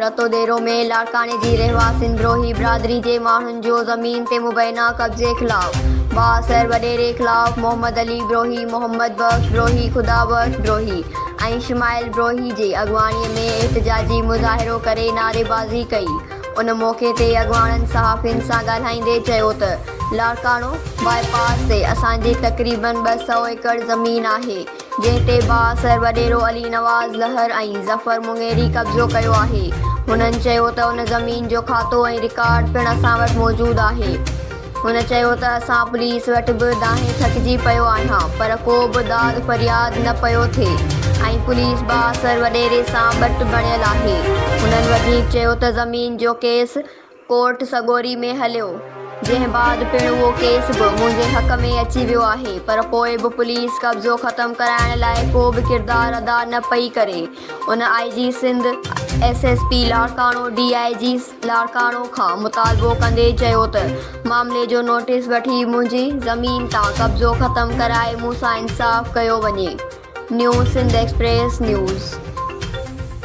رتو ديرو ۾ لاڙڪاڻي جي رهواسين دروهي برادري جي ماڻهن جو زمين تي مبينا قبضي خلاف بااثر وڏيري خلاف محمد علي دروهي، محمد بخش دروهي، خدا بخش دروهي ۽ شمائل دروهي جي اڳواڻي ۾ احتجاجي مظاهرو ڪري نعريبازي ڪئي ان موقعي تي اڳواڻن صحافين سان ڳالهائيندي چيو ته لاڙڪاڻو باء پاس تي اسان جي تقريبن ٻه سؤ ايڪڙ زمين آهي جنهن تي بااثر وڏيرو علي نواز لهر ۽ ظفر مڱيري قبضو ڪيو آهي. هنن چيو ته ان زمين جو کاتو ۽ رڪارڊ پڻ اسان وٽ موجود آهي. هن چيو ته اسان پوليس وٽ به دانهين ٿڪجي پيو آهيان پر ڪو به داد فرياد نه پيو ٿئي ۽ پوليس بااثر وڏيري سان ٻٽ بڻيل آهي. هنن وڌيڪ چيو ته زمين جو ڪيس ڪورٽ سڳوري ۾ هليو، جنهن بعد پڻ اهو ڪيس به منهنجي حق ۾ اچي ويو آهي، پر پوء به پوليس قبضو ختم ڪرائڻ لاء ڪو به ڪردار ادا نه پئي ڪري، ان I G Sindh, S S P Larkana, D I G Larkana کان مطالبو ڪندي چيو ته معاملي جو نوٽيس وٺي منهنجي زمين تان قبضو ختم ڪرائي مون سان انصاف ڪيو وڃي. New Sindh express news.